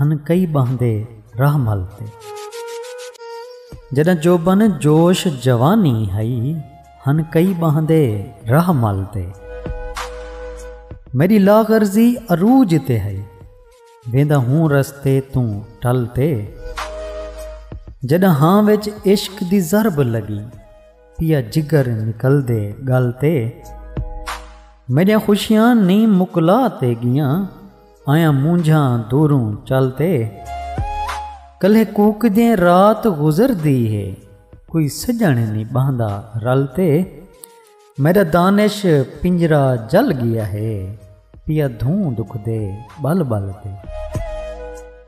ہن کئی ٻہندے راہ مل تے۔ جݙاں جوبن جوش جوانی ہئی ہن کئی ٻہندے راہ مل تے۔ میݙی لاغرضی عروج تے ہئی ویندا ہوں رستے توں ٹل تے۔ جݙاں ہاں وچ عشق دی ضرب لڳی پیا جگر نکلدے ڳل تے۔ میݙیاں خوشیاں نئیں مکلا تے ڳیاں۔ آیاں مونجھاں دوروں چل تے۔ کلھے کوکدیں رات گزردی ہے۔ کوئی سڄݨ نی ٻہندا رل تے۔ میݙا دانش پنجرہ جل ڳیا ہے۔ پیا دھوں دکھدے ٻل ٻل تے۔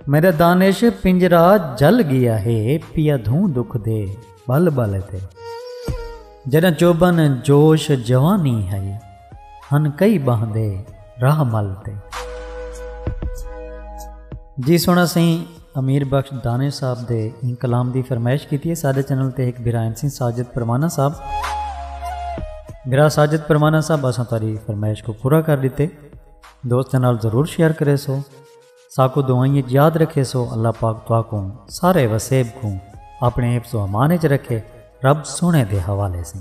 میݙا دانش پنجرہ جل ڳیا ہے۔ پیا دھوں دکھدے ٻل ٻل تے۔ جݙاں چوٻن جوش جوانی ہئی۔ ہن کئی ٻانہہ دے راہ مل تے۔ جی سونا سئیں امیر بخش دانش صاحب دے ایں کلام دی فرمائش کیتی ہے ساڈے چینل تے ہک بھرا ہن سئیں ساجد پروانہ صاحب بھرا ساجد پروانہ صاحب اساں تاری فرمائش کو پورا کر ڈتے دوستاں نال ضرور شیئر کرے سو ساکو دعائیں وچ یاد رکھے سو اللہ پاک تواکو سارے وسیب کو اپنے حفظ و امان وچ رکھے رب سونے دے حوالے سیں